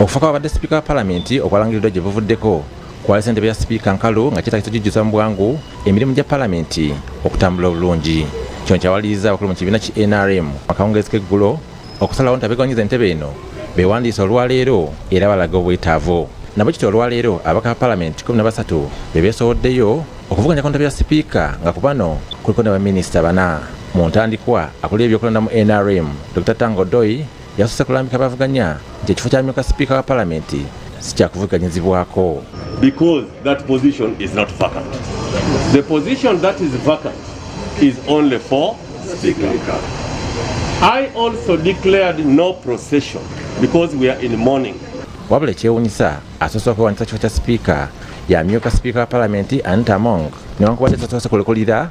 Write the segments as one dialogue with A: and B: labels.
A: okufa kwabadde sipiika wa palamenti okwalangiriddwa gye buvuddeko kwali sente bya sipiika nkalu nga kyetagisa okujjuza mu bwangu emirimu gya palamenti okutambula obulungi kino kyawaliriza abakulu mu kibiina ki nrm akawungeezi k'eggulo okusalawo nti abegawanyiza entebe eno bewandiisa olwaleero era balaga obwetaavu nabo kityo olwaleero abaka ba palamenti 13 be beesowoddeyo okuvuganya konta bya sipiika nga ku bano kuliko ne baminisita bana mu ntandikwa akulira ebyokulonda mu nrm dr tango doi Yasoose kulambika abavuganya nti ekifo ky'amyuka sipiika wa palamenti si kyakuvuganyizibwako. Because
B: that position is not vacant. The position that is vacant is only for speaker. I also declared no procession because we are in mourning. Wabula ekyewunyisa
A: asoose okwewanyisa kifo kya sipiika yamyuka sipiika wa palamenti Anita Among newankubadde tasoose kulekulira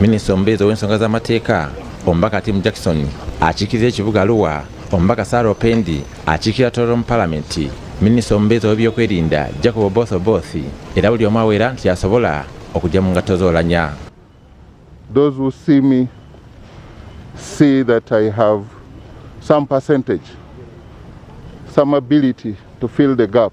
A: minisita omubeezi ow'ensonga z'amateeka omubaka tim jackson akiikirira ekibuga aluwa omubaka sara opendi akiikirira toro mu palamenti minisita omubeezi ow'ebyokwerinda jacob oboth oboth era buli omu awera nti asobola okujja mu ngatto z'olanya
C: those who see me see that i have some percentage some ability to fill the gap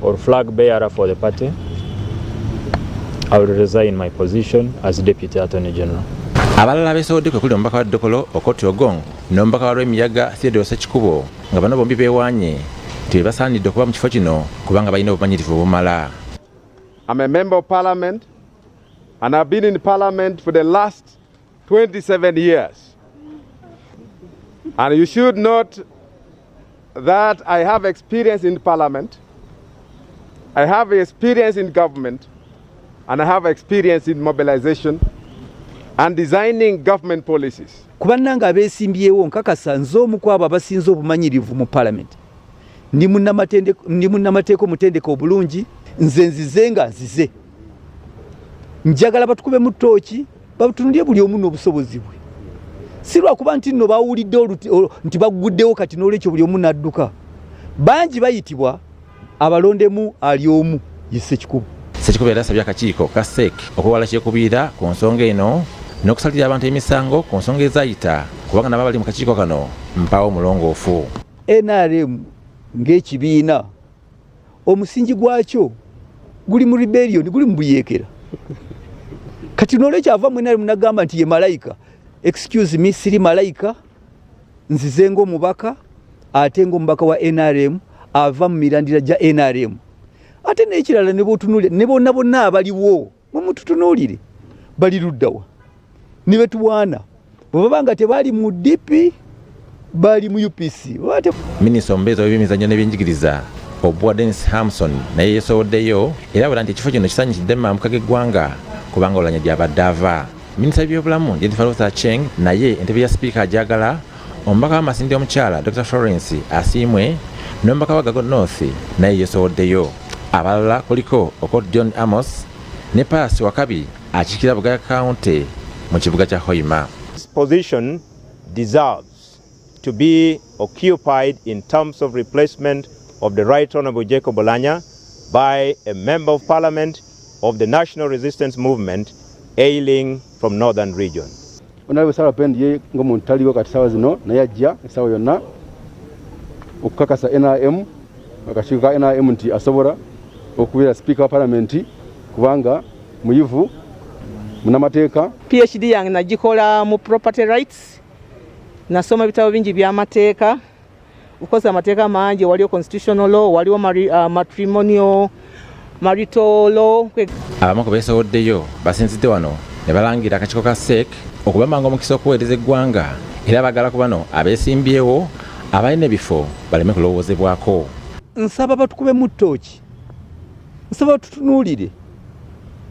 D: or flag bearer for the party, I will resign my position as Deputy Attorney General. abalala beesowodde
A: kwe kuli omubaka wa dokolo okoti ogong n'omubaka wa lwemiyaga theodore sekikubo nga bano bombi beewaanye nti be basaanidde okuba mu kifo kino kubanga balina obumanyirivu obumala I'm
E: a member of parliament and I've been in parliament for the last 27 years. And you should note that I have experience in parliament, I have experience in government, and I have experience in mobilization and designing government policies. Kuba nanga abesimbyewo
F: nkakasa nze omu kwabo abasinze obumanyirivu mu parliament. Ndi munnamateeka omutendeka obulungi nze nzize nga nzize. Njagala batukube mu ttooki batunulye buli omu n'obusobozi bwe si lwakuba nti nno bawulidde nti bagguddewo kati n'olwekyo buli omu n'adduka bangi bayitibwa abalondemu ali omu ye sekikubo sekikubo era asabye
A: akakiiko ka sek okwewala kyekubiira ku nsonga eno n'okusalira abantu emisango ku nsonga ezayita kubanga nabo abali mu kakiiko kano mpaawo omulongoofu nrm
F: ng'ekibiina omusingi gwakyo guli mu rebellion guli mubuyekera kati nolwekyo ava mwena ali munagamba nti ye malayika excuse me siri malayika nzize ngaomubaka ate ngaomubaka wa nrm ava mu mirandira gya nrm ate nekirala nebotunule nebona bonna abaliwo mumututunuulire bali luddawa ne betuwaana bwe baba nga tebaali mu dipi bali mu upc minisita omubeezi
A: w'ebyemizannyo n'ebyenjigiriza obwa denis hamson naye yeesowoddeyo era abula nti ekifo kino kisanyukidde mambuka g'eggwanga kubanga olanya gy'abadde ava Minisita w'ebyobulamu Jennifer Ruth Aceng naye entebe ya sipiika agyagala omubaka wa Masindi omukyala Dr Florence Asiimwe n'omubaka wa Gago North naye yesowoddeyo abalala kuliko Okot John Amos ne Pass Wakabi akiikira Bugaya County mu kibuga kya Hoima. This position
G: deserves to be occupied in terms of replacement of the Right Honorable Jacob Olanya by a Member of Parliament of the National Resistance Movement ailing from Northern Region. Honorable Sarah
E: Pend ye ngomuntu taliwo kati sawa zino naye ajja esawa yonna okukakasa NRM akakiiko ka NRM nti asobola okubeera sipiika wa palamenti kubanga muyivu munamateeka. PhD yange
H: nagikola mu property rights nasoma ebitabo bingi by'amateeka ukoze amateeka mangi waliwo constitutional law waliwo uh, matrimonial marital law abamu ku
A: beesowoddeyo basinzidde wano ne balangira akakiiko ka sek okubamanga omukisa okuweereza eggwanga era bagala ku bano abeesimbyewo abalina ebifo baleme kulowoozebwako nsaba
F: batukube mu ttooki nsaba tutunuulire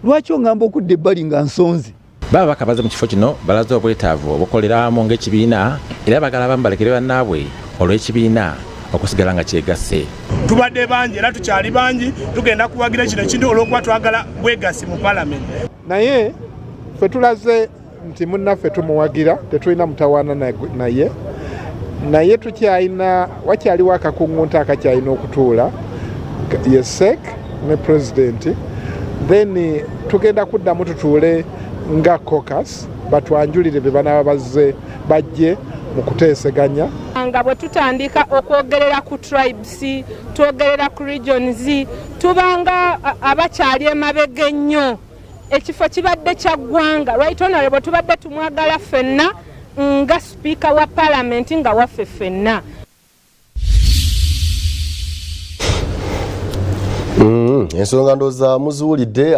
F: lwaki ongamba okudda ebbali nga nsonze Bababaka baze mu kifo
A: kino balaze obwetaavu obukolera awamu ng'ekibiina era bagala abamu balekere bannaabwe olw'ekibiina okusigala nga kyegasse tubadde bangi
I: era tukyali bangi tugenda kuwagira kino ekintu olwokuba twagala bwegassi mu palamenti naye
J: fe tulaze nti munnaffe tumuwagira tetulina mutawaana naye naye tukyalina wakyaliwo akakuŋŋunta akakyalina okutuula yesek ne president then tugenda kuddamu tutuule nga cocus batwanjulire bye banaba bazze bajje mu kuteeseganya nga bwe
K: tutandika okwogerera ku tribes twogerera ku regions tubanga abakyali emabega ennyo ekifo kibadde kya ggwanga right honorable tubadde tumwagala ffenna nga sipiika wa palamenti nga waffe ffenna
L: Mm, ensonga ndooza muziwulidde